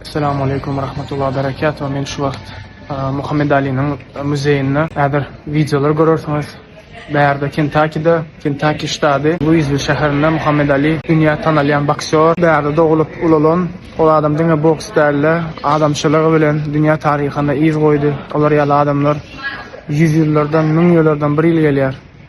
Salam aleykum we rahmetullah berekatuh men şu wagt Muhammed Aliniň muzeýinde häzir wideolar görersiňiz bärde Kentakide Kentaki ştady Luizwil şäherinde Muhammed Ali dünýä tanalýan boksýor bärde doglup ulalan ol adam diňe boks dälde adamçylygy bilen dünýä taryhyna yz goýdy olar ýaly adamlar ýüz ýyllardan müň ýyllardan bir ýyl gelýär.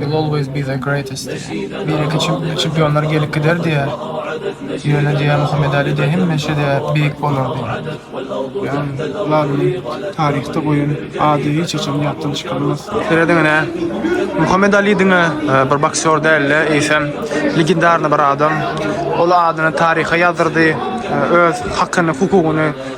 You'll always be the greatest. Bireki çempionlar gelip gider diýer. Ýöne diýer Muhammet Ali diýer hemişe diýer beýik bolar diýer. Ýan Lalynyň taryhda goýan ady hiç haçan ýatdan çykarylmaz. Serediň ine. Muhammet Ali diňe bir boksýor däldi, eýsem legendarny bir adam. Ol adyny taryha ýazdyrdy, öz hakyny, hukugyny.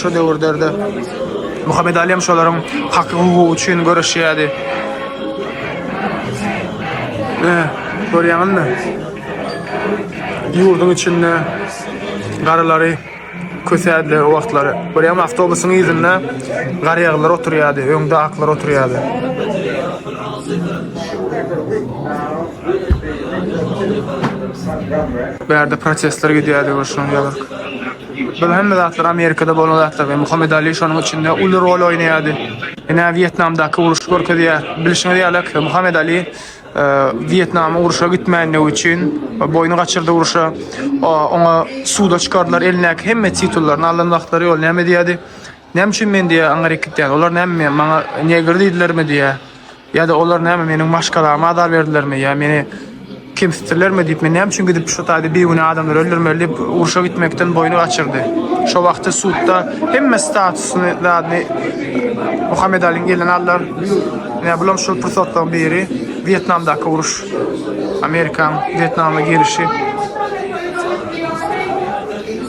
Şu döwürlerde Muhammed Alem şolaryň haky hukugy üçin göreşýärdi. Ee, görýäňizmi? Ýurduň içinde garylary kösädler o wagtlary. Görýäňmi, awtobusyň ýüzünde garýaglar oturýardy, öňde aklar oturýardy. Bärde protestler gidýärdi, görşüňiz ýalyk. Bul hemme zatlar Amerikada bolan zatlar we Muhammed Ali şonuň içinde uly rol oýnaýardy. Ine Wietnamdaky uruşy görkezýär. Bilşiňiz ýalak Muhammed Ali Wietnama uruşa gitmändigi üçin boýny gaçyrdy uruşa. Oňa suda çykardylar elindäki hemme titullaryny alan wagtlary ol näme diýýärdi? Näme üçin men diýýär aňryk gitýän? Olar näme maňa negr diýdilermi diýýär. Ýa-da olar näme meniň maşgalama azar berdilermi ýa meni kemsitdilermi diýip, men näme üçin gidip şu taýda bigünä adamlary öldürmeli diýip, urşa gitmekden boýny gaçyrdy. Şo wagty sudda hemme statusyny zadyny Muhammedalyň elinden aldylar. Ine bulam şol pursatlaryň biri, Wýetnamdaky uruş. Amerikaň Wýetnama girişi.